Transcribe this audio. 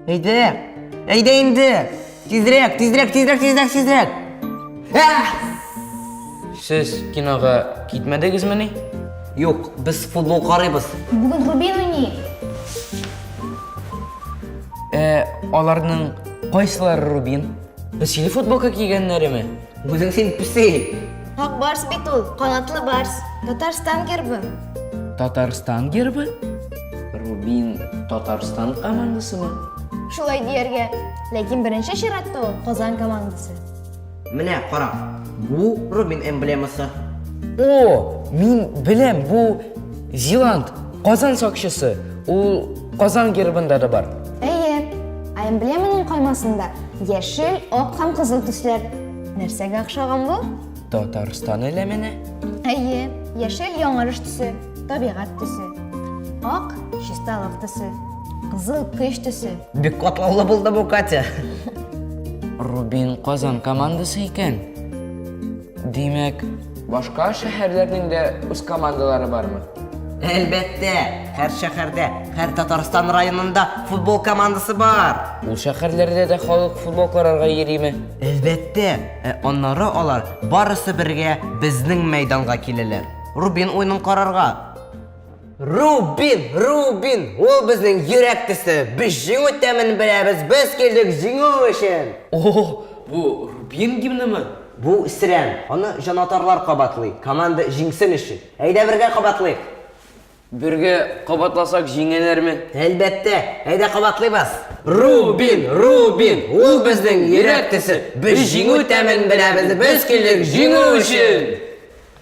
Әйдә! Әйдә инде! Тизрәк, тизрәк, тизрәк, тизрәк, тизрәк! Сез кинога китмәдегезме ни? Юк, без футбол карыйбыз. Бүген Рубин уйный. Ә, аларның кайсылары Рубин? Без силе футболка кигәннәреме? Үзең син песи! Ак барс бит ул, канатлы барс. Татарстан гербы. Татарстан гербы? Рубин Татарстан командасымы? Шулай дияргә. Ләкин беренче чиратта ул Казан командасы. Менә кара, бу Рубин эмблемасы. О, мин беләм, бу Зиланд, Казан сакчысы. Ул Казан гербында да бар. Әйе, ә эмблеманың каймасында яшел, ак һәм кызыл төсләр. Нәрсәгә охшаган бу? Татарстан элеменә. Әйе, яшел яңарыш төсе, табигать төсе. Ак чисталык төсе, кызыл көч төсе. Бик катлаулы булды бу, Катя. Рубин Казан командасы икән. Димәк, башка шәһәрләрнең дә үз командалары бармы? Әлбәттә, һәр шәһәрдә, һәр Татарстан районында футбол командасы бар. Ул шәһәрләрдә дә халык футбол карарга йөриме? Әлбәттә, ә аннары алар барысы бергә безнең мәйданга киләләр. Рубин уенын карарга. Рубин, Рубин, ул безнең йөрәк төсе. Без җиңү тәмен беләбез, без килдек җиңү өчен. О, бу Рубин гимнымы? Бу Сирән. Аны җанатарлар кабатлый, команда җиңсен өчен. Әйдә бергә кабатлыйк. Бергә кабатласак җиңәләрме? Әлбәттә. Әйдә кабатлыйбыз. Рубин, Рубин, ул безнең йөрәк төсе. Без җиңү тәмен беләбез, без килдек җиңү өчен.